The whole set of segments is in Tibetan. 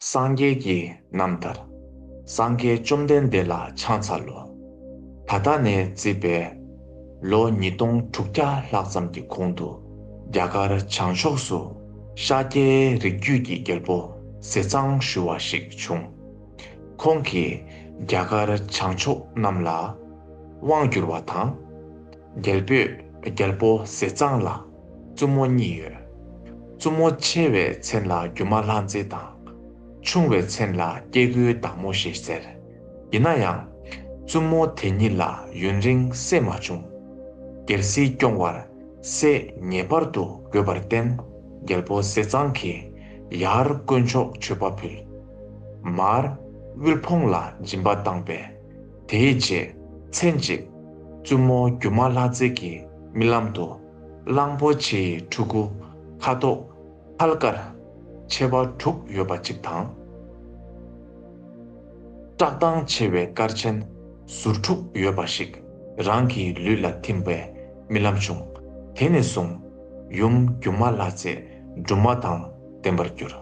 སངས་རྒྱས་ཀྱི་རྣམ་ཐར། སངས་རྒྱས་བཅོམ་ལྡན་འདས་ལ་ཕྱག་འཚལ་ལོ། ད་ལྟ་ནས་བརྩིས་པས། ལོ་ཉིས་སྟོང་དྲུག་བརྒྱ་ལྷག་ཙམ་གྱི་གོང་དུ་རྒྱ་གར་བྱང་ཕྱོགས་སུ་ཤཱཀྱའི་རིགས་རྒྱུད་ཀྱི་རྒྱལ་པོ་ཟེ་གཙང་ཞུ་བ་ཞིག་བྱུང། ཁོང་གིས་རྒྱ་གར་བྱང་ཕྱོགས་རྣམས་ལ་དབང་བསྒྱུར་བ་དང། རྒྱལ་པོས་རྒྱལ་པོ་ཟེ་གཙང་ལ། བཙུན་མོ་གཉིས་ཡོད། བཙུན་མོ་ཆེ་བའི་མཚན་ལ་སྒྱུ་མ་ལྷ་མཛེས་དང། ཆུང་བའི་མཚན་ལ་སྐྱེ་དགུའི་བདག་མོ་ཞེས་ཟེར། ཡིན་ན་ཡང། བཙུན་མོ་དེ་གཉིས་ལ་ཡུན་རིང་བསྲེས་མ་བྱུང། རྒྱལ་སྲིད་སྐྱོང་བར་བསྲེས་ངེས་པར་དུ་དགོས་པར་བརྟེན་རྒྱལ་པོ་བསེ་ཚང་གིས་ཡར་དཀོན་མཆོག་མཆོད་པ་ཕུལ། མར་དབུལ་ཕོངས་ལ་སྦྱིན་པ་བཏང་པས། དེའི་རྗེས་མཚན་གཅིག། བཙུན་མོ་སྒྱུ་མ་ལྷ་མཛེས་ཀྱི་རྨི་ལམ་དུ། གླང་པོ་ཆེའི་ཕྲུ་གུ་ཁ་དོག་ཁལ་དཀར་ཆེ་བ་དྲུག་ཡོད་པ་གཅིག་དང། བཀྲག་མདངས་ཆེ་བའི་སྐར་ཆེན་ཟུར་དྲུག་ཡོད་པ་ཞིག་རང་གི་ལུས་ལ་ཐིམ་པའི་རྨི་ལམ་བྱུང། དེ་ནས་བཟུང་ཡུམ་སྒྱུ་མ་ལྷ་རྩེ་སྦྲུམ་མ་དང། བསྟན་པར་འགྱུར།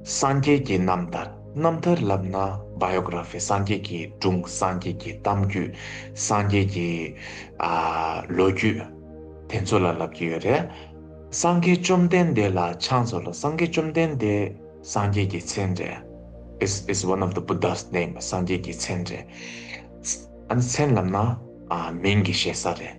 སངས་རྒྱས་ཀྱི་རྣམ་ཐར་རྣམ་ཐར་བསླབ་ན Biography སངས་རྒྱས་ཀྱི་སྒྲུང་སངས་རྒྱས་ཀྱི་གཏམ་རྒྱུད་སངས་རྒྱས་ཀྱི། ལོ་རྒྱུས། དེ་ཚོ་ལ་བསླབ་ཀྱི་ཡོད་རེད། སངས་རྒྱས་བཅོམ་ལྡན་འདས་ལ་ཕྱག་འཚོལ་ལོ་སངས་རྒྱས་བཅོམ་ལྡན་འདས་སངས་རྒྱས་ཀྱི་མཚན་རེད། Is is one of the Buddha's name སངས་རྒྱས་ཀྱི་མཚན་རེད། ཨ་ནི་མཚན་བསླབ་ན་མིང་གི་བཤད་ས་རེད།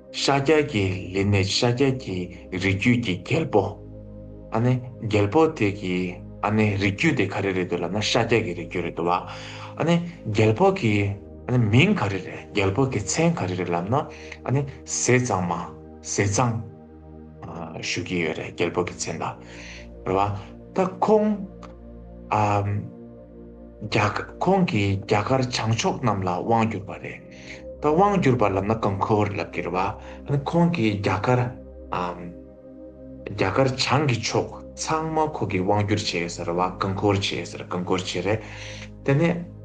ཤཱཀྱ་ཀྱི་ལི་ནི་ཤཱཀྱ་ཀྱི་རིགས་རྒྱུད་ཀྱི་རྒྱལ་པོ། ཨ་ནི་རྒྱལ་པོ་དེ་གི་ཨ་ནི་རིགས་རྒྱུད་དེ་ག་རེ་རེད་འདོད་ལབ་ན་ཤཱཀྱ་ཀྱི་རིགས་རྒྱུད་རེད་འདོད་བ། ཨ་ནི་རྒྱལ་པོ་གི་ཨ་ནི་མིང་ག་རེ་རེད་རྒྱལ་པོ་གི་མཚན་ག་རེ་རེད་ལབ་ན་ཨ་ནི་ཟས་གཙང་མ་ཟས་གཙང། ཞུ་གི་ཡོད་རེད་རྒྱལ་པོ་གི་མཚན་ལ་རེད་བ། ད་ཁོང་ཨ་ཁོང་གི་རྒྱ་གར་བྱང་ཕྱོགས་རྣམས་ལ་དབང་བསྒྱུར་བ་རེད། ད་དབང་བསྒྱུར་པར་ལབ་ན་གང་ཁོལ་བར་ལབ་ཀྱི་རེད་བ། ཧོན་ཁོང་གིས་རྒྱ་གར། རྒྱ་གར་བྱང་གི་ཕྱོགས་ཚང་མ་ཁོ་གིས་དབང་བསྒྱུར་བྱས་ཟེར་བ་གང་ཁོལ་བྱས་ཟེར་གང་ཁོལ་བྱས་རེད། དེ་ནས།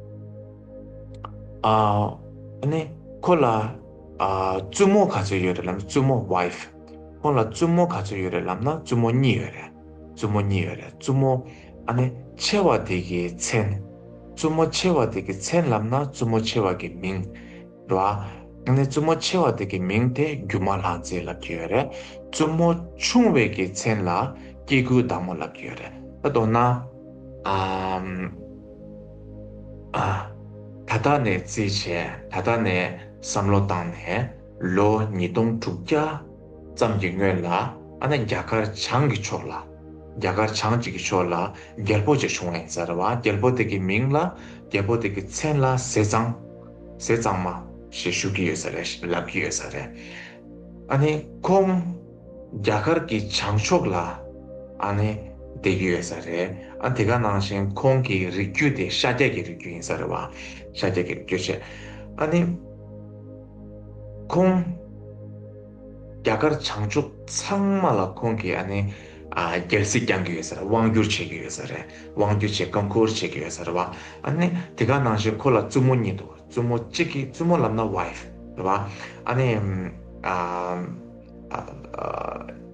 ནི། ཁོ་ལ། བཙུན་མོ་ག་ཚོད་ཡོད་རེད་ལབ་ན་བཙུན་མོ wife། ཁོང་ལ་བཙུན་མོ་ག་ཚོད་ཡོད་རེད་ལབ་ན་བཙུན་མོ་གཉིས་ཡོད་རེད། བཙུན་མོ་གཉིས་ཡོད་རེད་བཙུན་མོ། ཨ་ནི་ཆེ་བ་དེ་གའི་མཚན། བཙུན་མོ་ཆེ་བ་དེ་གའི་མཚན་ལབ་ན་བཙུན་མོ་ཆེ་བ་གའི་མིང། རེད་བ། ཨ་ནི་བཙུན་མོ་ཆེ་བ་དེ་གའི་མིང་དེ་རྒྱུ་མ་ལྷ་མཛེས་ལབ་ཀྱི་ཡོད་རེད། བཙུན་མོ་ཆུང་བའི་གའི་མཚན་ལ་སྐྱེ་དགུའི་བདག་མོ་ལབ་ཀྱི་ཡོད་རེད། ད་དོ་ན། ཨ། ཨ། ད་ལྟ་ནས་བརྩིས་བྱས་ད་ལྟ་ནས་བསམ་བློ་བཏང་ནས་ལོ་ཉིས་སྟོང་དྲུག་བརྒྱ་ཙམ་གྱི་སྔོན་ལ་ཨ་ནི་རྒྱ་གར་བྱང་གི་ཕྱོགས་ལ། རྒྱ་གར་བྱང་གཅིག་གི་ཕྱོགས་ལ་རྒྱལ་པོ་ཅིག་བྱུང་བས་ཟེར་བ་རྒྱལ་པོ་དེ་གི་མིང་ལ་རྒྱལ་པོ་དེ་གི་མཚན་ལ་ཟས་གཙང། ཟས་གཙང་མ། ཞེས་ཞུ་གི་ཡོད་ས་རེད་ལབ་གི་ཡོད་ས་རེད། ཨ་ནི་ཁོང། རྒྱ་གར་གི་བྱང་ཕྱོགས་ལ། ཨ་ནི། བསྡད་ཀྱི་ཡོད་ས་རེད། ཨ་དེ་ག་ནང་བཞིན་ཁོང་གི་རིགས་རྒྱུད་དེ་ཤཱ་ཀྱ་གི་རིགས་རྒྱུད་ཡིན་ས་རེད་བ། ཤཱ་ཀྱ་གི་རིགས་རྒྱུད་ཆེ། ཨ་ནི། ཁོང། རྒྱ་གར་བྱང་ཕྱོགས་ཚང་མ་ལ་ཁོང་གིས་ཨ་ནི། རྒྱལ་སྲིད་བསྐྱང་གི་ཡོད་ས་རེད་དབང་བསྒྱུར་བྱེད་ཀྱི་ཡོད་ས་རེད་དབང་བསྒྱུར་བྱེད་བཀའ་འཁོར་བྱེད་ཀྱི་ཡོད་ས་རེད་བ། ཨ་ནི། དེ་ག་ནང་བཞིན་ཁོ་ལ་བཙུན་མོ་གཉིས་འདུག་བཙུན་མོ་གཅིག་གིས་བཙུན་མོ་ལབ་ན wife རེད་བ། ཨ་ནི།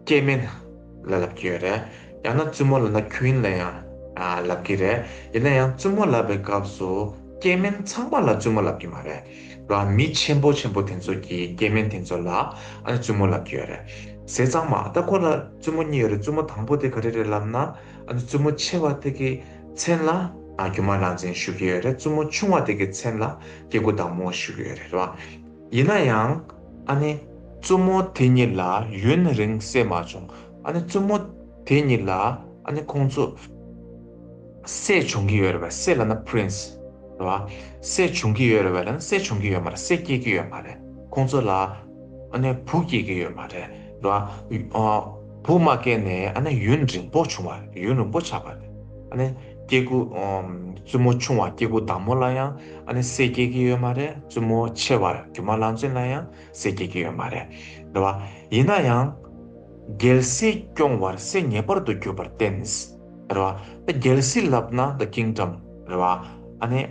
སྐྱེས་དམན་ལ་ལབ་ཀྱི་ཡོད་རེད། ཡང་ན་བཙུན་མོ་ལབ་ན queen ལ་ཡང་ལབ་ཀྱི་རེད། ཡིན་ན་ཡང་བཙུན་མོ་ལབ་པའི་སྐབས་སུ་སྐྱེས་དམན་ཚང་མ་ལ་བཙུན་མོ་ལབ་ཀྱི་མ་རེད། ལ་མི་ཆེན་པོ་ཆེན་པོ་དེ་ཚོ་གི་སྐྱེ་དམན་དེ་ཚོ་ལ་ཨ་ནི་བཙུན་མོ་ལབ་ཀྱི་ཡོད་རེད། ཟས་གཙང་མ་ད་ཁོ་ལ་བཙུན་མོ་གཉིས་ཡོད་རེད་བཙུན་མོ་དང་པོ་དེ་ག་རེ་རེད་ལབ་ན་ཨ་ནི་བཙུན་མོ་ཆེ་བ་དེ་གི་མཚན་ལ་རྒྱུ་མ་ལག་འཛིན་ཞུ་གི་ཡོད་རེད་བཙུན་མོ་ཆུང་བ་དེ་གི་མཚན་ལ་སྐྱེ་དགུ་བདག་མོ་ཞུ་གི་ཡོད་རེད་བ། ཡིན་ན་ཡང་ཨ་ནི། བཙུན་མོ་དེ་གཉིས་ལ་ཡུན་རིང་བསད་མ་བྱུང་ཨ་ནི་བཙུན་མོ་དེ་གཉིས་ལ་ཨ་ནི་ཁོང་ཚོ། སྲས་བྱུང་གི་ཡོད་རེད་བ་སྲས་ལ་ན Prince རེད་བ། སྲས་བྱུང་གི་ཡོད་རེད་བ་ལ་ན་སྲས་བྱུང་གི་ཡོད་མ་རེད་སྲས་སྐྱེས་ཀྱི་ཡོད་མ་རེད་ཁོང་ཚོ་ལ་ཨ་ནེ་བུ་སྐྱེས་ཀྱི་ཡོད་མ་རེད་བ། བུ་མ་སྐྱེས་ནས་ཨ་ནེ་ཡུན་རིང་པོ་བྱུང་བ་རེད་ཡུན་རིང་པོ་ཆགས་པ་རེད་ཨ་ནེ་སྐྱེས་དགུ་བཙུན་མོ་ཆུང་བ་སྐྱེས་དགུ་བདག་མོ་ལ་ཡང་ཨ་ནེ་སྲས་སྐྱེས་ཀྱི་ཡོད་མ་རེད་བཙུན་མོ་ཆེ་བ་སྒྱུ་མ་ལང་ཚོན་ལ་ཡང་སྲས་སྐྱེས་ཀྱི་ཡོད་མ་རེད་བ། ཡིན་ན་ཡང་རྒྱལ་སྲས་སྐྱོང་བར་སྲས་ངེས་པར་དུ་གྱུར་པར་བརྟེན། རེད་བ། རྒྱལ་སྲིད་ལབ་ན་ད་ཀིངཏྲམ་རེད་བ། ཨ་ནི།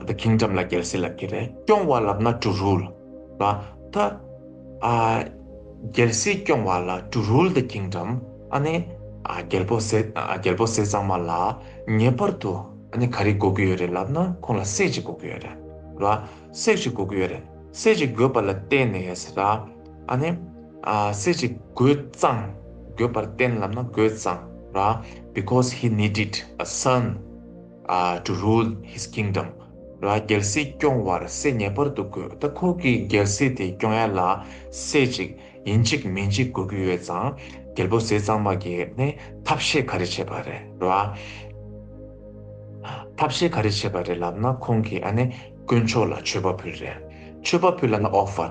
ད་ཀིངཏྲམ་ལ་རྒྱལ་སྲིད་ལབ་ཀྱི་རེད། སྐྱོང་བ་ལབ་ན་ཏྲུ་རུལ་རེད་བ། ད། རྒྱལ་སྲིད་སྐྱོང་བ་ལ་ཏྲུ་རུལ་ད་ཀིངཏྲམ་ཨ་ནི། རྒྱལ་པོ་ཟས་རྒྱལ་པོ་ཟས་གཙང་མ་ལ་ངེས་པར་དུ་ཨ་ནི་ག་རེ་དགོས་ཀྱི་ཡོད་རེད་ལབ་ན་ཁོང་ལ་སྲས་གཅིག་དགོས་ཀྱི་ཡོད་རེད་བ། སྲས་གཅིག་དགོས་ཀྱི་ཡོད་རེད། སྲས་གཅིག་དགོས་པ་ལ་བརྟེན་ནས་ཟེར་ན། ཨ་ནི། སེ་ཅིག་རྒོད་གཙང། རྒོད་པར་བསྟན་ལབ་ན་རྒོད་གཙང་ར། Because he needed a son to rule his kingdom ར། རྒྱལ་སྲིད་སྐྱོང་བར་སེ་ངེས་པར་དུ་དགོས། ད་ཁོ་གིས་རྒྱལ་སྲིད་དེ་སྐྱོང་ཡ་ལ། སེ་ཅིག་ཡིན་གཅིག་མིན་གཅིག་དགོས་ཀྱི་ཡོད་ཙང། རྒྱལ་པོ་སེ་གཙང་མ་གིས་ནི་ཐབས་ཤེས་ག་རེ་བྱས་པ་རེད་ར། ཐབས་ཤེས་ག་རེ་བྱས་པ་རེད་ལབ་ན་ཁོང་གིས་ཨ་ནི་དཀོན་མཆོག་ལ་མཆོད་པ་ཕུལ་རེད། མཆོད་པ་ཕུལ་ལ་ན་ཨོ་ཧྥ།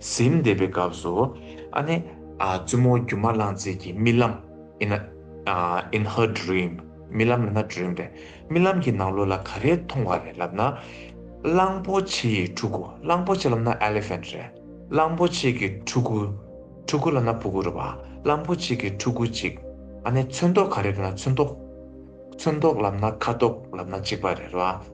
གཟིམས་འདེབས་པའི་སྐབས་སུ། ཨ་ནེ། བཙུན་མོ་སྒྱུ་མ་གླང་རྩེད་ཀྱི་རྨི་ལམ། in in her dream རྨི་ལམ་ནི་ན dream རེད། རྨི་ལམ་གྱི་ནང་ལོགས་ལ་ག་རེ་མཐོང་བ་རེད་ལབ་ན། གླང་པོ་ཆེ་ཡི་ཕྲུ་གུ་གླང་པོ་ཆེ་ལབ་ན elephant རེད། གླང་པོ་ཆེ་གི་ཕྲུ་གུ། ཕྲུ་གུ་ལབ་ན་ཕུ་གུ་རེད་བ། གླང་པོ་ཆེ་གི་ཕྲུ་གུ་གཅིག། ཨ་ནེ། ཚོན་མདོག་ག་རེ་རེད་ན་ཚོན་མདོག། ཚོན་མདོག་ལབ་ན་ཁ་དོག་ལབ་ན་གཅིག་པ་རེད་བ།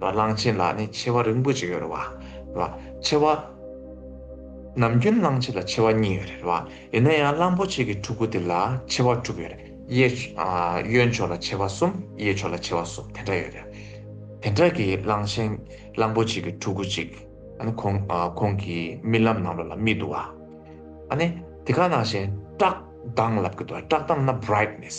གླང་ཆེན་ལ་ནི་མཆེ་བ་རིང་པོ་ཅིག་ཡོད་རེད་བ། མཆེ་བ། ནམ་རྒྱུན་གླང་ཆེན་ལ་མཆེ་བ་གཉིས་ཡོད་རེད་བ། ཡིན་ན་ཡང་གླང་པོ་ཆེ་གི་ཕྲུ་གུ་དེ་ལ་མཆེ་བ་དྲུག་ཡོད་རེད། གཡོན་ཕྱོགས་ལ་མཆེ་བ་གསུམ་གཡས་ཕྱོགས་ལ་མཆེ་བ་གསུམ་དེ་འདྲ་ཡོད་རེད། དེ་འདྲ་གི་གླང་ཆེན་གླང་པོ་ཆེ་གི་ཕྲུ་གུ་ཅིག་ཁོང་གི་རྨི་ལམ་ནང་ལོགས་ལ་རྨིས་འདུག་བ། ཨ་ནི་དེ་ག་ནང་བཞིན་བཀྲག་མདངས་ལབ་གི་འདུག་བ་བཀྲག་མདངས་ན brightness།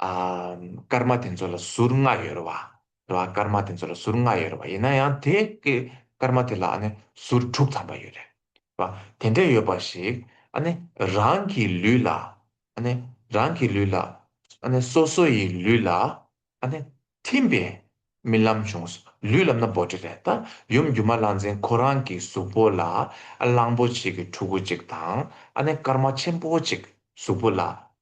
སྐར་མ་དེ་ཚོ་ལ་ཟུར་ལྔ་ཡོད་རེད་བ། རེད་བ། སྐར་མ་དེ་ཚོ་ལ་ཟུར་ལྔ་ཡོད་རེད་བ། ཡིན་ན་ཡང་དེ་གི་སྐར་མ་དེ་ལ་ཨ་ནི་ཟུར་དྲུག་ཐམ་པ་ཡོད་རེད་བ། དེ་འདྲས་ཡོད་པ་ཞིག་ཨ་ནི་རང་གི་ལུས་ལ། ཨ་ནི་རང་གི་ལུས་ལ། ཨ་ནི་སོ་སོ་ཡི་ལུས་ལ་ཨ་ནི་ཐིམ་པའི་རྨི་ལམ་བྱུང། ལུས་ལ་ན་བོ་ཏྲི་རེད་ད། ཡུམ་སྒྱུ་མ་ལང་ཚན་ཁོ་རང་གི་གཟུགས་པོ་ལ་གླང་པོ་ཆེ་གི་ཕྲུ་གུ་ཅིག་དང་ཨ་ནི་སྐར་མ་ཆེན་པོ་ཅིག་གཟུགས་པོ་ལ་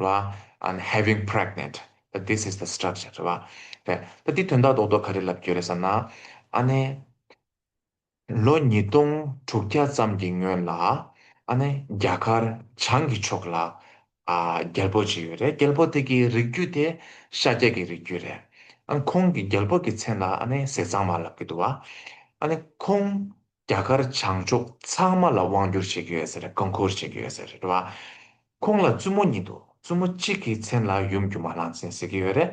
ལ and having pregnant that this is the structure རེད་བ། དེ་ད་དེའི་དོན་དག་རྡོག་རྡོག་ག་རེ་ལབ་རྒྱུ་རེད་བསམ་ན། ཨ་ནི། ལོ་ཉིས་སྟོང་དྲུག་བརྒྱ་ཙམ་གྱི་སྔོན་ལ། ཨ་ནི་རྒྱ་གར་བྱང་གི་ཕྱོགས་ལ། རྒྱལ་པོ་ཅིག་ཡོད་རེད་རྒྱལ་པོ་དེ་གི་རིགས་རྒྱུད་དེ་ཤཱཀྱ་ཀྱི་རིགས་རྒྱུད་རེད། ཨ་ཁོང་གི་རྒྱལ་པོ་གི་མཚན་ལ་ཨ་ནི་ཟས་གཙང་མ་ལབ་གི་འདུག་བ། ཨ་ནི་ཁོང་རྒྱ་གར་བྱང་ཕྱོགས་ཚང་མ་ལ་དབང་བསྒྱུར་བྱེད་ཀྱི་ཡོད་ཟེར་བཀའ་འཁོར་བྱེད་ཀྱི་ཡོད་ཟེར་རེད་བ། ཁོང་ལ་བཙུན་མོ་གཉིས་འདུག་བཙུན་མོ་གཅིག་གི་མཚན་ལ་ཡུམ་སྒྱུ་མ་ལྷ་མཚན་ཟེར་གྱི་ཡོད་རེད།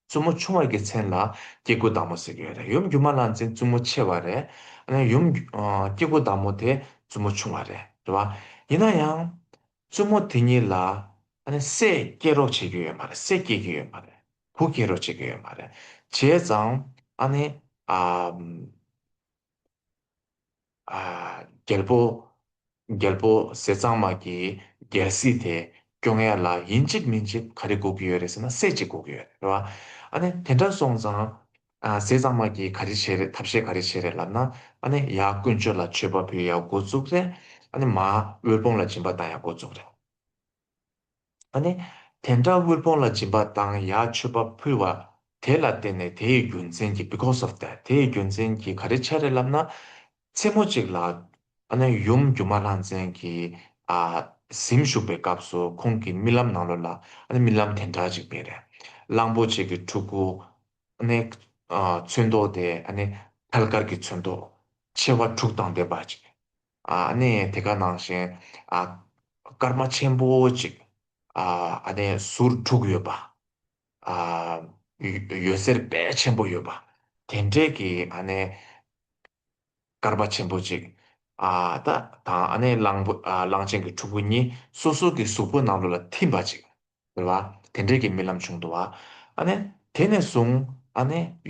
བཙུན་མོ་ཆུང་བ་གི་མཚན་ལ་སྐྱེ་དགུ་བདག་མོ་ཟེར་གྱི་ཡོད་རེད་ཡུམ་སྒྱུ་མ་ལྷ་མཚན་བཙུན་མོ་ཆེ་བ་རེད། ཨ་ནེ་ཡུམ། སྐྱེ་དགུ་བདག་མོ་དེ་བཙུན་མོ་ཆུང་བ་རེད་བ། ཡིན་ན་ཡང། བཙུན་མོ་དེ་གཉིས་ལ། ཨ་ནེ་སྲས་སྐྱེ་རོགས་བྱེད་ཀྱི་ཡོད་མ་རེད་སྲས་སྐྱེ་གི་ཡོད་མ་རེད། བུ་སྐྱེ་རོགས་བྱེད་ཀྱི་ཡོད་མ་རེད། བྱས་ཙང། ཨ་ནེ། རྒྱལ་པོ། རྒྱལ་པོ་ཟས་གཙང་མ་གྱི་རྒྱལ་སྲིད་དེ་སྐྱོ་ངལ་ལ་ཡིན་གཅིག་མིན་གཅིག་ག་རེ་སྒུག་གི་ཡོད་རེད་ཟེར་ན་སྲས་གཅིག་སྒུག་གི་ཡོད་རེད་རེད་བ། ཨ་ནི་དེ་འདྲ་སོང་ཙང། ཟས་གཙང་མ་གྱིས་ག་རེ་བྱས་རེད་ཐབས་ཤེས་ག་རེ་བྱས་རེད་ལབ་ན། ཨ་ནི་ཡ་དཀོན་མཆོག་ལ་མཆོད་པ་ཕུལ་ཡག་འགོ་བཙུགས་རེད། ཨ་ནི་མ། དབུལ་ཕོངས་ལ་སྦྱིན་པ་བཏང་ཡག་འགོ་བཙུགས་རེད། ནི། དེ་འདྲ་དབུལ་ཕོངས་ལ་སྦྱིན་པ་དང་ཡར་མཆོད་པ་ཕུལ་བ། དེ་ལ་བརྟེན་ནས་དེའི་རྒྱུ་མཚན་གྱིས because of that དེའི་རྒྱུ་མཚན་གྱིས་ག་རེ་ཆ་རེ་ལབ་ན། མཚན་མོ་གཅིག་ལ། ནི། ཡུམ་སྒྱུ་མ་ལྷ་མཚན་གྱིས། གཟིམ་བཞུགས་པའི་སྐབས་སུ་ཁོང་གི་རྨི་ལམ་ནང་ལོ་ལ། ནི། རྨི་ལམ་དེ་འདྲ་གཅིག་པས་རེ། གླང་པོ་ཆེ་གི་ཕྲུ་གུ། ནི། ཚོན་མདོག་དེ། ནི། ཐལ་དཀར་གྱི་ཚོན་མདོག། མཆེ་བ་དྲུག་དང་ལྡན་པ། ནས་དེ་ག་ནང་བཞིན་སྐར་མ་ཆེན་པོ་གཅིག་ཟུར་དྲུག་ཡོད་པ། ཡོད་ཟེར་དཔལ་ཆེན་པོ་ཡོད་པ། དེ་འདྲས་ཀྱི་སྐར་མ་ཆེན་པོ་གཅིག་དང་གླང་ཆེན་གྱི་ཕྲུ་གུ་གཉིས་སོ་སོ་གྱི་གཟུགས་པོ་ནང་དུ་ལ་ཐིམ་པ་གཅིག། དེ་འདྲས་ཀྱི་རྨི་ལམ་བྱུང་འདུག་བ། དེ་ནས་བཟུང་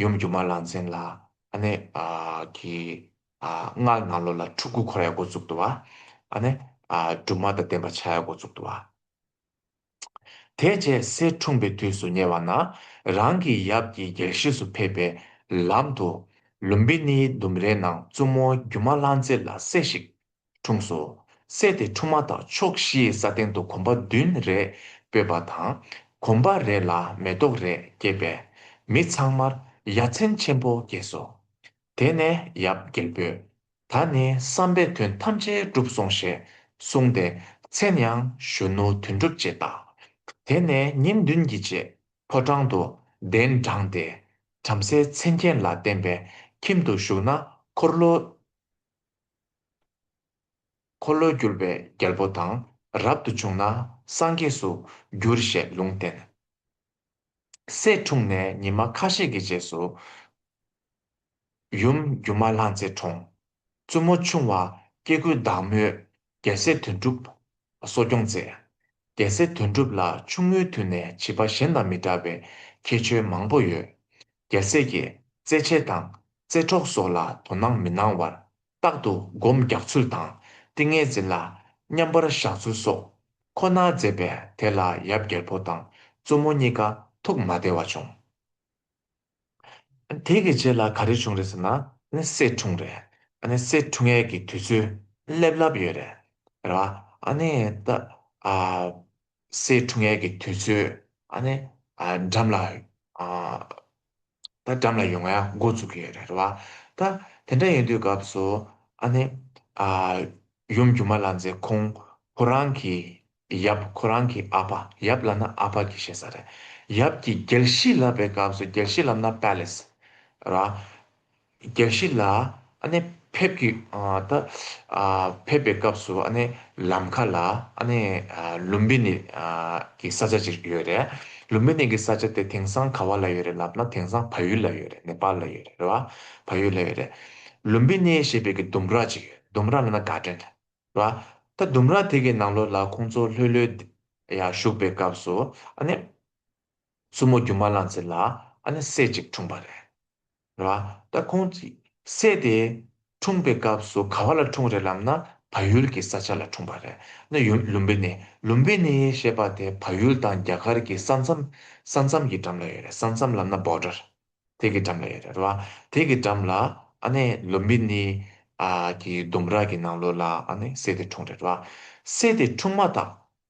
ཡུམ་སྒྱུ་མ་ལང་ཚན་ལ་སྔགས་ནང་ལོགས་ལ་ཁྲུ་དགུ་འཁོར་ཡ་འགོ་བཙུགས་འདུག་བ། ཨ་ནི། སྦྲུམ་མ་དང་ལྡན་པ་ཕྱ་ཡ་འགོ་བཙུགས་འདུག་བ། དེ་རྗེས་གསེར་འཁྲུངས་པའི་དུས་སུ་ཉེ་བ་ན། རང་གི་ཡབ་ཀྱི་རྒྱལ་གཞིས་སུ་ཕེབས་པའི་ལམ་དུ། ལུམ་བི་ནིའི་ལྡུམ་རའི་ནང་བཙུན་མོ་སྒྱུ་མ་བླ་མཚེ་ལ་སྲས་ཤིག། འཁྲུངས་སོ། སྲས་དེ་འཁྲུངས་མ་ཐག་ཕྱོགས་བཞིའི་ས་སྟེང་དུ་གོམ་པ་བདུན་རེ་སྤོས་པ་དང། གོམ་པ་རེ་ལ་མེ་ཏོག་རེ་སྐྱེས་པས། མི་ཚང་མར་ཡ་མཚན་ཆེན་པོ་སྐྱེས་སོ། དེ་ནས་ཡབ་རྒྱལ་པོས། ད་ནི་བསམ་པའི་དོན་ཐམས་ཅད་འགྲུབ་སོང་ཞེས་གསུངས་ཏེ་མཚན་ཡང་གཞོན་ནུ་དོན་འགྲུབ་ཅེས་བཏགས། དེ་ནས་ཉིན་བདུན་གྱི་རྗེས་ཕོ་བྲང་དུ་གདན་དྲངས་ཏེ། བྲམ་ཟེའི་མཚན་མཁྱེན་ལ་བརྟེན་པའི་ཁྱིམ་དུ་བཞུགས་ན་འཁོར་ལོ། འཁོར་ལོས་སྒྱུར་བའི་རྒྱལ་པོ་དང་རབ་ཏུ་བྱུང་ན་སངས་རྒྱས་སུ་འགྱུར་ཞེས་ལུང་བསྟན། སྲས་འཁྲུངས་ནས་ཉི་མ་ཁ་ཤས་ཀྱི་རྗེས་སུ། ཡུམ་སྒྱུ་མ་ལྷ་མཛེས་འཁྲུངས། བཙུན་མོ་ཆུང་བ་སྐྱེ་དགུའི་བདག་མོས་རྒྱལ་སྲས་དོན་གྲུབ་ལ་གསོ་སྐྱོང་མཛད། རྒྱལ་སྲས་དོན་གྲུབ་ལ་ཆུང་ངུའི་དུས་ནས་བྱིས་པ་གཞན་དང་མི་འདྲ་བའི་ཁྱད་ཆོས་མང་པོ་ཡོད། རྒྱལ་སྲས་ཀྱིས་རྩེད་ཆས་དང་རྩེད་གྲོགས་སོགས་ལ་དོ་སྣང་མི་གནང་བར་རྟག་ཏུ་བསྒོམ་རྒྱག་ཚུལ་དང། ཏིང་ངེ་འཛིན་ལ་མཉམ་པར་བཞག་ཚུལ་སོགས་ཁོ་ནར་མཛད་པས་དེ་ལ་ཡབ་རྒྱལ་པོ་དང་བཙུན་མོ་གཉིས་ཀ་ཐུགས་མ་བདེ་བ་བྱུང། དེ་གི་རྗེས་ལ་ག་རེ་བྱུང་རེད་ཟེར་ན། སྲས་འཁྲུངས་རེད། སྲས་འཁྲུངས་ཡས་ཀྱི་དུས་ཚོད་སླེབས་ལབ་ཡོད་རེད། རེད་བ། སྲས་འཁྲུངས་ཡས་ཀྱི་དུས་ཚོད་འགྲམ་ལ་ད་འགྲམ་ལ་ཡོང་ང་ཡག་མགོ་འཛུགས་ཀྱི་ཡོད་རེད་བ། ད་དེ་འདྲ་ཡོང་དུས་སྐབས་སུ་ཨ་ནི། ཨ། ཡུམ་རྒྱུ་མ་ལ་མཛེས་ཁོང་ཁོ་རང་གི་ཡབ་ཁོ་རང་གི་ཨ་ཕ་ཡབ་ལ་ན་ཨ་ཕ་གི་ཞེས་ས་རེད་ཡབ་ཀྱི་རྒྱལ་གཞིས་ལབ་པའི་སྐབས་སུ་རྒྱལ་གཞིས་ལབ་ན Palace རེད་བ། རྒྱལ་གཞིས་ལ་ཕེབས་ཀྱི་ད་ཕེབས་པའི་སྐབས་སུ་ལམ་ཁ་ལ་ལུམ་བི་ནི་གི་ས་ཆ་ཅིག་ཡོད་རེད། ལུམ་བི་ནི་གི་ས་ཆ་དེ་དེང་སང་ག་བ་ལ་ཡོད་རེད་ལབ་ན་དེང་སང་བ་ཡུལ་ལ་ཡོད་རེད་ནེ་པ་ལ་ཡོད་རེད་རེད་བ། བ་ཡུལ་ལ་ཡོད་རེད། ལུམ་བི་ནི་ཞེས་པའི་གི་ལྡུམ་ར་ཅིག་ཡོད་ལྡུམ་ར་ལ་ན་ག་དྲན་རེད་བ། ད་ལྡུམ་ར་དེ་གི་ནང་ལོ་ལ་ཁོང་ཚོ་ལྷོད་ལྷོད་ཡ་བཞུགས་པའི་སྐབས་སུ། སྲུ་མོ་རྒྱུ་མ་བླངས་ཚེ་ལ་སྲས་ཅིག་འཁྲུངས་པ་རེད། ལ་སྟ་གོན་བགྱིས། སྲས་དེ་འཁྲུངས་པའི་སྐབས་སུ་ག་བ་ལ་འཁྲུངས་རེད་ལབ་ན་བ་ཡུལ་གྱི་ས་ཆ་ལ་འཁྲུངས་པ་རེད་ན་ཡུམ་ལུམ་བི་ནི Lumbini བི་ནི་ཞེས་པ་དེ་བ་ཡུལ་དང་རྒྱ་གར་གྱི་ས་མཚམས་ས་མཚམས་ཀྱི་འགྲམ་ལ་ཡོད་རེད་ས་མཚམས་ལབ་ན Border དེ་གི་འགྲམ་ལ་ཡོད་རེད་ལ་དེ་གི་འགྲམ་ལ་ཨ་ནེ་ལུམ་བི་ནི་གི་ལྡུམ་ར་གི་ནང་ལོ་ལ་ཨ་ནེ་སྲས་དེ་འཁྲུངས་རེད་ལ་སྲས་དེ་འཁྲུངས་མ་ཐག་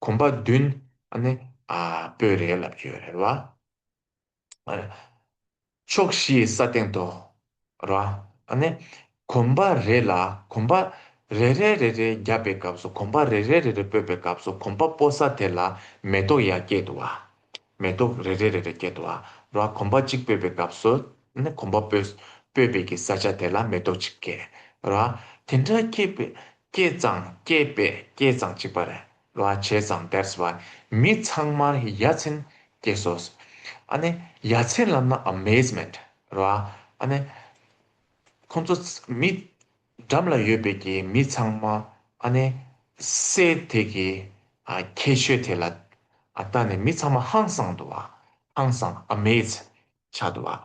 གོམ་པ་བདུན། ནི། སྤོས་རེག་ལ་བརྗོད། རེག་ལ། ཕྱོགས་བཞིའི་ས་སྟེང་དུ། ར། ནི། གོམ་པ་རེ་ལ་གོམ་པ། རེ་རེ་རེ་རེ་བརྒྱབ་པའི་སྐབས་སུ་གོམ་པ་རེ་རེ་རེ་རེ་སྤོས་པའི་སྐབས་སུ་གོམ་པ་སྤོ་ས་དེ་ལ་མེ་ཏོག་ཡར་སྐྱེད་དུ་བ། མེ་ཏོག་རེ་རེ་རེ་རེ་བཀྱེ་དོ། ར་གོམ་པ་གཅིག་སྤོས་པའི་སྐབས་སུ། གོམ་པ་སྤོས། སྤོས་པའི་གི་ས་ཆ་དེ་ལ་མེ་ཏོག་ཅིག་བཀྱེ། ར། དེ་འདྲ་བཀྱེ། བཀྱེ་ཙང་བཀྱེ། བཀྱེ་ཙང་བཅིག་པ། ར་བྱས་ཙང་དེར་སོ། མི་ཚང་མར་ཡ་མཚན་བཀྱེ་སོ། ཡ་མཚན་ལབ་ན amazement། ར། ཁོང་ཚོ་མི། འགྲམ་ལ་ཡོད་པའི་ཀྱི་མི་ཚང་མ་ཨ་ནེ་སེ་དེ་ཀྱི་ཨ་ཁྱད་ཆོས་དེ་ལ་ཨ་ལྟ་ནས་མི་ཚང་མ་ཧང་སང་འདུག་ཨ་ཧང་སང Amaze ཆགས་འདུག་ཨ།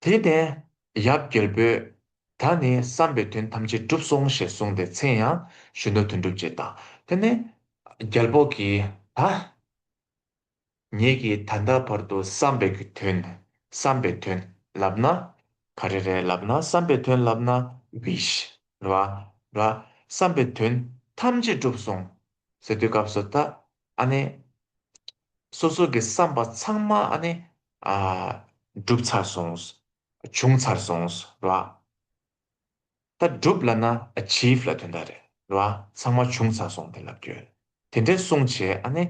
དེ་ནས་ཡབ་རྒྱལ་པོས་ད་ནི་བསམ་པའི་དོན་ཐམས་ཅད་འགྲུབ་སོང་ཞེས་གསུངས་ཏེ་མཚན་ཡང་གཞོན་ནུ་དོན་འགྲུབ་ཅེས་བཏགས། དེ་ནས་རྒྱལ་པོ་ཀྱིས་ད། ངེད་ཀྱིས་ད་ལྟ་བར་དུ་བསམ་པའི་དོན། བསམ་པའི་དོན་ལབ་ན། ག་རེ་རེད་ལབ་ན་བསམ་པའི་དོན་ལབ་ན wish རེད་བ། ར། བསམ་པའི་དོན་ཐམས་ཅད་འགྲུབ་སོང། ཟེར་དུས་སྐབས་སུ་ད། ཨ་ནི། སོ་སོ་གི་བསམ་པ་ཚང་མ་ཨ་ནི། ཨ། འགྲུབ་ཚར་སོང། བྱུང་ཚར་སོང། ར། ད་སྒྲུབ་ལ་ན achieve ལ་དོན་དག་རེད་བ་ཚང་མ་བྱུང་ཚར་སོང་དེ་ལབ་ཡོད་དེ་འདྲའི་གསུང་བྱས་ཨ་ནི་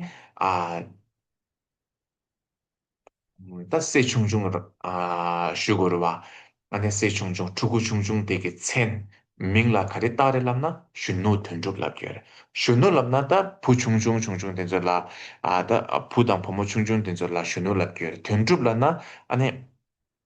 ཨ། ད་བསྲེ་ཆུང་ཆུང་ཞུ་དགོས་རེད་བ་ཨ་ནི་བསྲེ་ཆུང་ཆུང་ཕྲུ་གུ་ཆུང་ཆུང་དེ་གི་མཚན་མིང་ལ་ག་རེ་བཏགས་རེད་ལབ་ན་གཞོན་ནུ་དོན་འགྲུབ་ལབ་ཡོད་གཞོན་ནུ་ལབ་ན་ད་བུ་ཆུང་ཆུང་ཆུང་ཆུང་དེ་ཚོ་ལ་ད་བུ་དང་བུ་མོ་ཆུང་ཆུང་དེ་ཚོ་ལ་གཞོན་ནུ་ལབ་ཡོད་དོན་འགྲུབ་ལ་ན་ཨ་ནི།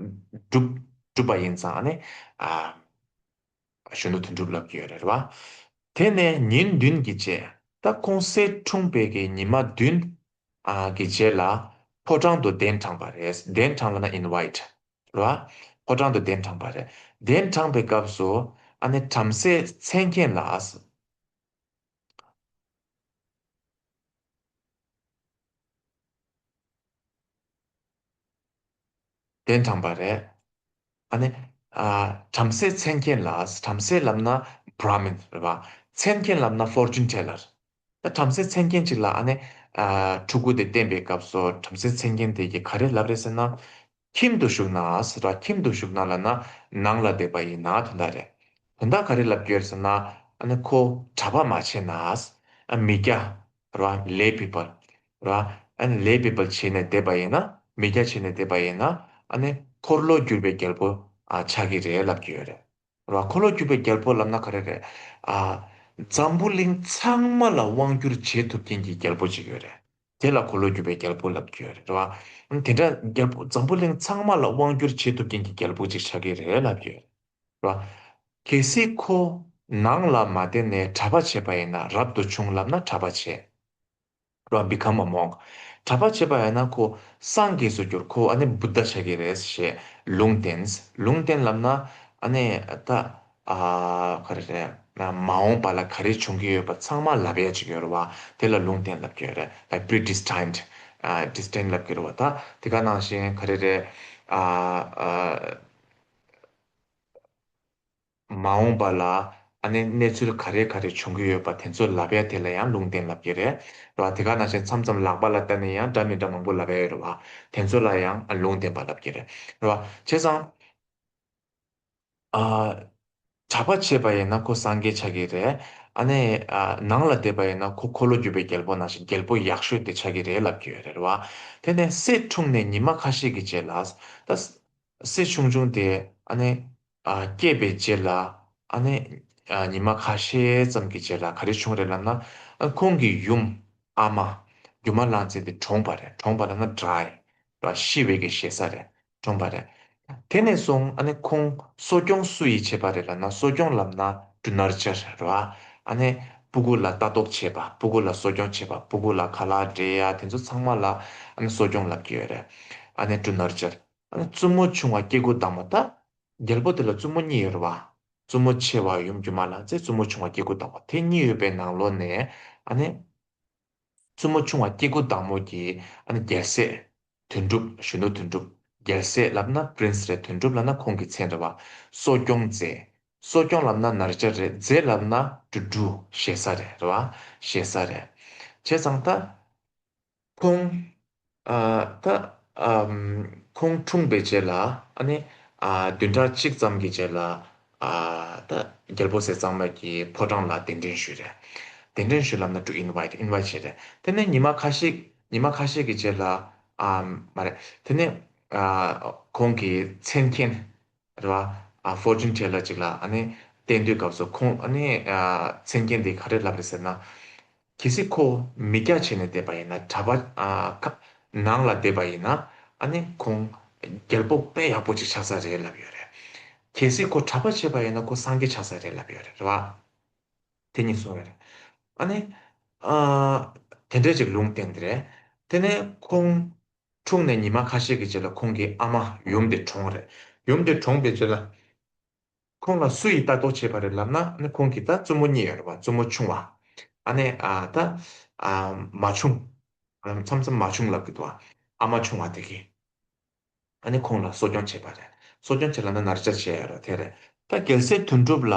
བསྒྲུབས་པ་ཡིན་ཙང་ནི། གཞོན་ནུ་དོན་འགྲུབ་ལབ་ཀྱི་ཡོད་རེད་བ། དེ་ནས་ཉིན་བདུན་གྱི་རྗེས་ད་ཁོང་གསེར་འཁྲུངས་དཔལ་གྱི་ཉི་མ་བདུན། གི་རྗེས་ལ། ཕོ་བྲང་དུ་གདན་དྲངས་པ་རེད་གདན་དྲངས་ལ་ན invite། རེད་བ། ཕོ་བྲང་དུ་གདན་དྲངས་པ་རེད་གདན་དྲངས་པའི་སྐབས་སུ། བྲམ་ཟེ་མཚན་མཁྱེན་ལགས། དོན་དམ་པར་རེད། ཨ་ནི། བྲམ་ཟེ་མཚན་མཁྱེན་ལ་བྲམ་ཟེའི་ལམ་ན Brahmin རེད་པ། མཚན་མཁྱེན་ལམ་ན Fortune Teller། ད་བྲམ་ཟེ་མཚན་མཁྱེན་ཅིག་ལ་ཨ་ནི། ཕྲུ་གུ་དེ་བསྟེན་པའི་སྐབས་སུ་བྲམ་ཟེ་མཚན་མཁྱེན་དེ་གིས་ག་རེ་ལབ་རེད་ཟེར་ན། ཁྱིམ་དུ་ཞུགས་ན་ར་ཁྱིམ་དུ་ཞུགས་ན་ལ་ན་ནང་ལ་བསྡད་པ་ཡིན་ན་དོན་དག་རེད། དོན་དག་ག་རེ་ལབ་རྒྱུ་ཡོད་ཟེར་ན། ཨ་ནི་ཁོ་གྲྭ་པ་མ་བྱས་ན། མི་སྐྱ། རང་ལས་པའི་བར། རང་ལས་པའི་བར་བྱས་ནས་བསྡད་པ་ཡིན་ན་མི་སྐྱ་བྱས་ནས་བསྡད་པ་ཡིན་ན་འཁོར་ལོ་བསྒྱུར་བའི་རྒྱལ་པོ་ཆགས་ཀྱི་རེད་ལབ་ཀྱི་ཡོད་རེད། འཁོར་ལོ་བསྒྱུར་བའི་རྒྱལ་པོ་ལབ་ན་ག་རེ་རེད། འཛམ་བུ་གླིང་ཚང་མ་ལ་དབང་བསྒྱུར་བྱེད་ཐུབ་མཁན་གྱི་རྒྱལ་པོ་ཅིག་ཡོད་རེད། དེ་ལ་འཁོར་ལོ་བསྒྱུར་བའི་རྒྱལ་པོ་ལབ་ཀྱི་ཡོད་རེད། དེ་འདྲ་འཛམ་བུ་གླིང་ཚང་མ་ལ་དབང་བསྒྱུར་བྱེད་ཐུབ་མཁན་གྱི་རྒྱལ་པོ་ཅིག་ཆགས་ཀྱི་རེད་ལབ་ཀྱི་ཡོད་རེད། ལ། གལ་སྲིད་ཁོ། ནང་ལ་མ་བསྡད་ནས་གྲྭ་པ་བྱས་པ་ཡིན་ན་རབ་ཏུ་བྱུང་ལབ་ན་གྲྭ་པ་བྱས། ལོ become a monk། གྲྭ་པ་བྱས་པ་ཡིན་ན་ཁོ། སངས་རྒྱས་སུ་གྱུར་ཁོ་ཨ་ནི Buddha བྱ་གི་རེད་ཞེས་ལུང་བསྟན། ལུང་བསྟན་ལབ་ན། ཨ་ནི། ད། ག་རེ་རེད། མ་འོངས་པ་ལ་ག་རེ་བྱུང་གི་ཡོད་པ་ཚང་མ་ལབ་ཡ་ཅིག་ཡོད་རེད་བ། དེ་ལ་ལུང་བསྟན་ལབ་ཀྱི་ཡོད་རེད like predestined། Destined ལབ་ཀྱི་རེད་བ་ད། དེ་ག་ནང་བཞིན་ག་རེ་རེད། མ་འོངས་པ་ལ་ཨ་ནེ་གནས་ཚུལ་ག་རེ་ག་རེ་འབྱུང་གི་ཡོད་པ་དེ་ཚོ་ལབ་ཡ་དེ་ལ་ཡང་ལུང་བསྟན་ལབ་ཀྱི་རེད་རེད་བ་དེ་ག་ནང་བཞིན་མཚམས་མཚམས་ལག་པ་ལ་བལྟ་ནས་ཡང་འདྲ་མི་འདྲ་མང་པོ་ལབ་ཡ་ཡོད་རེད་བ་དེ་ཚོ་ལ་ཡང་ལུང་བསྟན་པ་ལབ་ཀྱི་རེད་རེད་བ་བྱས་ཙང་གྲྭ་པ་བྱས་པ་ཡིན་ན་ཁོ་སངས་རྒྱས་ཆགས་ཀྱི་རེད་ཨ་ནེ་ནང་ལ་བསྡད་པ་ཡིན་ན་ཁོ་འཁོར་ལོ་བརྒྱུད་པའི་རྒྱལ་པོ་ནང་བཞིན་རྒྱལ་པོ་ཡག་ཤོས་དེ་ཆགས་ཀྱི་རེད་ལབ་ཀྱི་ཡོད་རེད་རེད་བ་དེ་ནས་སྲས་འཁྲུངས་ནས་ཉི་མ་ཁ་ཤས་ཀྱི་རྗེས་ལ་ད། སྲས་ཆུང་ཆུང་དེ་སྐྱེས་པའི་རྗེས་ལ། ཉི་མ་ཁ་ཤས་ཙམ་གྱི་རྗེས་ལ་ག་རེ་བྱུང་རེད་ལབ་ན། ཁོང་གི་ཡུམ་ཨ་མ་སྒྱུ་མ་གླང་ཆེན་དེ་གྲོངས་པ་རེད་གྲོངས་པ་ལབ་ན་དགྲ་ལ་ཤི་བའི་གེ་བཞེས་ས་རེད་གྲོངས་པ་རེད། དེ་ནས་བཟུང་ཁོང་གསོ་སྐྱོང་སུ་ཡིས་བྱས་པ་རེད་ལབ་ན་གསོ་སྐྱོང་ལབ་ན་སྦྲུ་ནར་ཅེར་རེད་རོ། སྤུ་གུ་ལ་ལྟ་རྟོག་བྱེད་པ་སྤུ་གུ་ལ་གསོ་སྐྱོང་བྱེད་པ་སྤུ་གུ་ལ་ག་ལ་འདྲེ་ཡ་དེ་ཚོ་ཚང་མ་ལ་གསོ་སྐྱོང་ལབ་ཀྱི་ཡོད་རེད་སྦྲུ་ནར་ཅེར། བཙུན་མོ་ཆུང་བ་སྐྱེ་དགུ་དང་བ་དག། རྒྱལ་པོ་དེ་ལ་བཙུན་མོ་གཉིས་ཡོད་རེ་བ། བཙུན་མོ་ཆེ་བ་ཡུམ་སྒྱུ་མ་ལ་ཚེ་བཙུན་མོ་ཆུང་བ་སྐྱེ་དགུ་དང་བ་དེ་གཉིས་ཡོད་པའི་ནང་ལོ་ནས། བཙུན་མོ་ཆུང་བ་སྐྱེ་དགུ་དང་མོ་གྱིས། རྒྱལ་སྲས། དོན་གྲུབ་གཞོན་ནུ་དོན་གྲུབ། རྒྱལ་སྲས་ལབ་ན Prince རེད་དོན་གྲུབ་ལབ་ན་ཁོང་གི་མཚན་རེ་བ། གསོ་སྐྱོང་མཛད། གསོ་སྐྱོང་ལབ་ན་ནར་སྐྱ་རེད་མཛད་ལབ་ན་ཀྲུ་ཀྲུ། ཞེ་ས་རེད་རེ་བ། ཞེ་ས་རེད། བྱས་ཙང་ད། ཁོང། ད། ཁོང་འཁྲུངས་པའི་རྗེས་ལ། བདུན་ཕྲག་གཅིག་ཙམ་གྱི་རྗེས་ལ། ད། རྒྱལ་པོ་ཟས་གཙང་མ་གྱིས་ཕོ་བྲང་ལ་གདན་འདྲེན་ཞུས། གདན་འདྲེན་ཞུས་ལབ་ན་དྲུག invite invite བྱས། དེ་ནས་ཉི་མ་ཁ་ཤས་ཉི་མ་ཁ་ཤས་ཀྱི་རྗེས་ལ། མ་རེད། དེ་ནས། ཁོང་གི་མཚན་མཁན། ལ། Fortune Teller ཅིག་ལ་ཨ་ནི་བསྟན་དུས་སྐབས་སུ་ཁོང་ཨ་ནི། མཚན་མཁན་འདི་ག་རེ་ལབ་རེད་ཟེར་ན། གལ་སྲིད་ཁོ་མི་སྐྱ་བྱས་ནས་བསྡད་པ་ཡིན་ན་གྲྭ་པ། ནང་ལ་བསྡད་པ་ཡིན་ན་ཨ་ནི་ཁོང་རྒྱལ་པོ་དཔེ་ཡག་པོ་ཅིག་ཆགས་ས་རེད་ལབ་ཡོད་རེད། གལ་སྲིད་ཁོ་གྲྭ་པ་བྱས་པ་ཡིན་ན་ཁོ་སངས་རྒྱས་ཆགས་ས་རེད་ལབ་ཡོད་རེད་རེད་བ། དེ་གཉིས་སོང་བས། ཨ་ནི། དེ་འདྲས་ཅིག་ལུང་བསྟན་རེད། དེ་ནས་ཁོང། འཁྲུངས་ནས་ཉི་མ་ཁ་ཤས་ཀྱི་རྗེས་ལ་ཁོང་གི་ཨ་མ་ཡུམ་འདི་གྲོངས། རེད་ཡུམ་འདི་གྲོངས་པའི་རྗེས་ལ། ཁོང་ལ་སུ་ཡིས་ལྟ་རྟོག་བྱེད་པ་རེད་ལབ་ན་ནི་ཁོང་གི་ད་བཙུན་མོ་གཉིས་ཡོད་པ་བཙུན་མོ་ཆུང་བ། ཨ་ནེ་ད། མ་བྱུང། མཚམས་མཚམས་མ་བྱུང་ལབ་ཀྱི་འདུག་ཨ་མ་ཆུང་བ་དེ་གིས། ཨ་ནེ་ཁོང་ལ་གསོ་སྐྱོང་བྱེད་པ་རེད་གསོ་སྐྱོང་བྱེད་ལབ་ན་ན་རེ་ཅར་བྱས་ཡོད་རེད་དེ་རེད། ད་གལ་སྲིད་དོན་གྲུབ་ལ་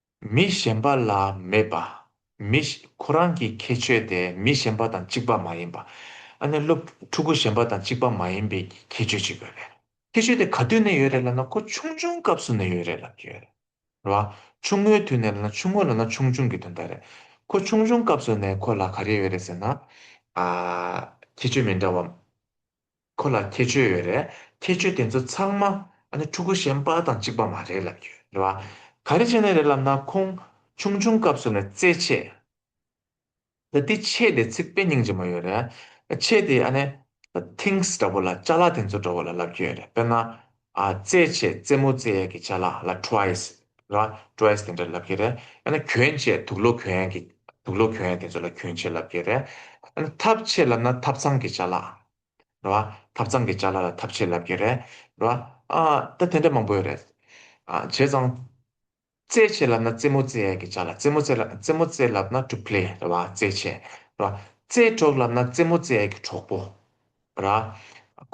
མི་གཞན་པ་ལ་མེད་པ། མི། ཁོ་རང་གི་ཁྱད་ཆོས་དེ་མི་གཞན་པ་དང་གཅིག་པ་མ་ཡིན་པ། ཨ་ནེ་སློབ་ཕྲུ་གུ་གཞན་པ་དང་གཅིག་པ་མ་ཡིན་པའི་ཁྱད་ཆོས་གཅིག་ཡོད་རེད། ཁྱད་ཆོས་དེ་ག་དུས་ནས་ཡོད་རེད་ལབ་ན་ཁོ་ཆུང་ཆུང་སྐབས་སུ་ནས་ཡོད་རེད་ལབ་ཀྱི་ཡོད་རེད། རེད་བ། ཆུང་ངུའི་དུས་ནས་ལབ་ན་ཆུང་ངུ་ལབ་ན་ཆུང་ཆུང་གི་དོན་དག་རེད། ཁོ་ཆུང་ཆུང་སྐབས་སུ་ནས་ཁོ་ལ་ག་རེ་ཡོད་རེད་ཟེར་ན། ཁྱད་ཆོས་མི་འདྲ་བ། ཁོ་ལ་ཁྱད་ཆོས་ཡོད་རེད། ཁྱད་ཆོས་དེ་ཚོ་ཚང་མ་ཕྲུ་གུ་གཞན་དཔའ་དང་གཅིག་པ་མ་རེད་ལབ་རྒྱུ་རེད་བ། ག་རེ་བྱས་ནས་རེད་ལབ་ན་ཁོང་ཆུང་ཆུང་སྐབས་སུ་ནས་རྩེད་ཆས། ད་ལྟའི་ཆས་དེ་ཚིག་དཔེ་རྙིང་རྗེ་མོ་ཡོད་རེད། ཆས་དེ་ཨ་ནེ། Things། འདྲ་བོ་ལ་ལྕགས་ལ་དེ་ཚོ་འདྲ་བོ་ལ་ལབ་རྒྱུ་ཡོད་རེད་དཔེར་ན། རྩེད་ཆས་རྩེད་མོ་རྩེ་ཡས་ཀྱི་ལྕགས་ལ་ལ Twice། རེད་བ། Twice དེ་འདྲ་ལབ་རྒྱུ་རེད། ཨ་ནེ་གྱོན་ཆས་དུག་ལོ་གྱོན་ཡས་ཀྱི་དུག་ལོ་གྱོན་ཡས་དེ་ཚོ་ལ་གྱོན་ཆས་ལབ་རྒྱུ་ཡོད་རེད། ཨ་ནེ་ཐབ་ཆས་ལབ་ན་ཐབ་ཚང་གི་ལྕགས་ལ། རེད། ཐབ་ཚང་གི་ལྕགས་ལ་ལ་ཐབ་ཆས་ལབ་ཀྱིན་རེད། ད་དེ་འདྲ་མང་པོ་ཡོད་རེད། བྱས་ཙང། རྩེད་ཆས་ལབ་ན་རྩེད་མོ་རྩེ་ཡས་ཀྱི་ལྕགས་ལ་རྩེད་མོ་རྩེ། རྩེད་མོ་རྩེ་ལབ་ན་གྲུ་བྷེ་རེད། རྩེད་ཆས། རྩེད་གྲོགས་ལབ་ན་རྩེད་མོ་རྩེ་ཡས་ཀྱི་གྲོགས་པོ།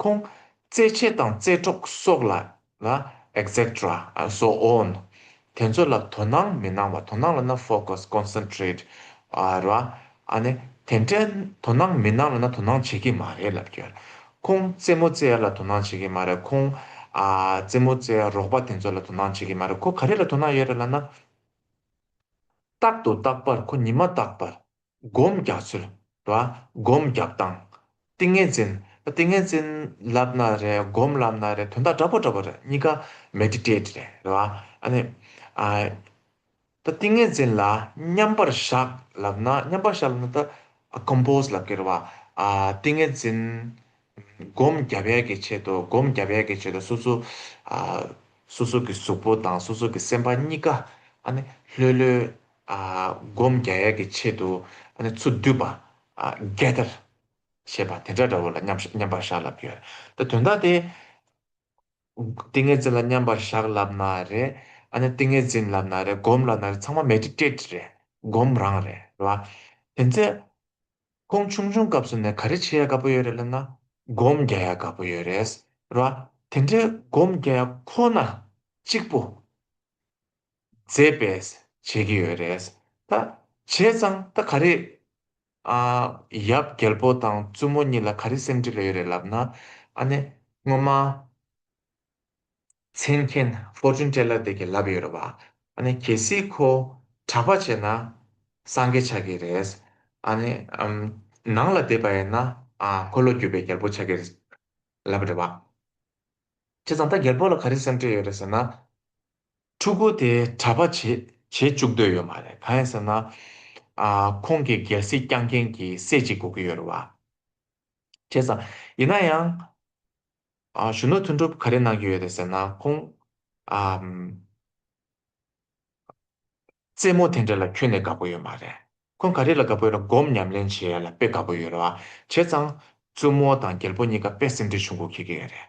ཁོང། རྩེད་ཆས་དང་རྩེད་གྲོགས་སོགས་ལ་ལ། Etcetera and so on། དེ་ཚོ་ལ་དོ་སྣང་མི་གནང་བ་དོ་སྣང་ལ་ན Focus Concentrate ར། ཨ་ནི་དེ་འདྲའི་དོ་སྣང་མི་གནང་ལ་ན་དོ་སྣང་བྱེད་ཀྱི་མ་རེད་ལབ་ཀྱི། ཁོང་རྩེད་མོ་རྩེ་ཡ་ལ་དོ་སྣང་བྱེད་ཀྱི་མ་རེད་ཁོང། རྩེད་མོ་རྩེ་ཡ་རོགས་པ་དེ་ཚོ་ལ་དོ་སྣང་བྱེད་ཀྱི་མ་རེད་ཁོ་ག་རེ་ལ་དོ་སྣང་ཡོད་རེད་ལ་ན། རྟག་ཏུ་རྟག་པར་ཁོ་ཉི་མ་རྟག་པར། སྒོམ་རྒྱག་ཚུལ། ལ། སྒོམ་རྒྱག་སྟངས། ཏིང་ངེ་འཛིན། ཏིང་ངེ་འཛིན། ལབ་ན་རེད་སྒོམ་ལབ་ན་རེད་དོན་དག་འདྲ་པོ་འདྲ་པོ་རེད་གཉིས་ཀ Meditate རེད་རེད་བ། ཨ་ནི། ཨ། ད་ཏིང་ངེ་འཛིན་ལ་མཉམ་པར་བཞག་ལབ་ན་མཉམ་པར་བཞག་ལབ་ན་ད Compose ལབ་ཀྱི་རེད་བ། ཨ། ཏིང་ངེ་འཛིན། སྒོམ་རྒྱ་བལ་གྱི་ཆེད་དུ་སྒོམ་རྒྱ་བལ་གྱི་ཆེད་དུ་སོ་སོ། ཨ། སོ་སོ་གི་གཟུགས་པོ་དང་སོ་སོ་གི་སེམས་པ་གཉིས་ཀ། ཨ་ནི། ལྷོད་ལྷོད། སྒོམ་རྒྱ་ཡལ་གྱི་ཆེད་དུ་ཚུར་བསྡུས་པ། gather། ཞེས་པ་དེ་འདྲ་འདྲ་བོ་ལ་མཉམ་པར་བཞག་ལབ་ཡོད། ད་དོན་དག་དེ། ཏིང་ངེ་འཛིན་ལ་མཉམ་པར་བཞག་ལབ་ན་རེ། ཏིང་ངེ་འཛིན་ལབ་ན་རེ་སྒོམ་ལབ་ན་རེ་ཚང་མ Meditate རེད། སྒོམ་རང་རེད། རེད་བ། དེ་ཚེ། ཁོང་ཆུང་ཆུང་སྐབས་སུ་ནས་ག་རེ་བྱེད་ཡ་དགའ་པོ་ཡོད་རེད་ལབ་ན། སྒོམ་རྒྱ་ཡ་དགའ་པོ་ཡོད་རེད། རེད་བ། དེ་འདྲའི་སྒོམ་རྒྱ་ཡ་ཁོ་ན་གཅིག་པོ། མཛེས་པས་བྱེད་ཀྱི་ཡོད་རེད། ད་བྱས་ཙང་ད་ག་རེ། ཨ། ཡབ་རྒྱལ་པོ་དང་བཙུན་མོ་གཉིས་ལ་ག་རེ་སེམས་འཁྲིད་ལ་ཡོད་རེད་ལབ་ན། ཨ་ནི། སྔོན་མ། མཚན་མཁན Fortune Teller དེ་གིས་ལབ་ཡོད་རེད་བ། ཨ་ནི་གལ་སྲིད་ཁོ། གྲགས་པ་བྱས་ན། སངས་རྒྱས་ཆགས་ཀྱི་རེད། ཨ་ནི། ནང་ལ་བསྡད་པ་ཡིན་ན། ཨ་ཁོ་བློ་བསྒྱུར་བའི་རྒྱལ་པོ་ཆགས་ཀྱི་རེད། ལབ་རེད་བ། བྱས་ཙང་ད་རྒྱལ་པོ་ལ་ག་རེ་སེམས་འཁྲིད་ཡོད་རེད་ཟེར་ན། ཕྲུ་གུ་དེ་གྲྭ་པ་བྱེད་བཅུག་འདོད་ཡོད་མ་རེད་གང་ཡིན་ཟེར་ན། ཁོང་གི་སྒལ་སྲིད་བསྐྱངས་མཁན་གྱི་སྲས་གཅིག་དགོས་ཀྱི་ཡོད་རེད་བ། བྱས་ཙང། ཡིན་ན་ཡང། གཞོན་ནུ་ཐུན་གྲུབ་ག་རེ་གནང་གི་ཡོད་རེད་ཟེར་ན་ཁོང། རྩེད་མོ་དེ་འདྲ་ལ་ཁྱོན་ནས་དགའ་པོ་ཡོད་མ་རེད། ཁོང་ག་རེ་ལ་དགའ་པོ་ཡོད་ར་སྒོམ་ཉམས་ལེན་བྱེད་ཡ་ལ་དཔེ་དགའ་པོ་ཡོད་རེད་བ། བྱས་ཙང། བཙུན་མོ་དང་རྒྱལ་པོ་གཉིས་ཀ་དཔེ་སེམས་འཁྲལ་བྱུང་གུག་ཁྱེད་ཀྱི་ཡོད་རེད།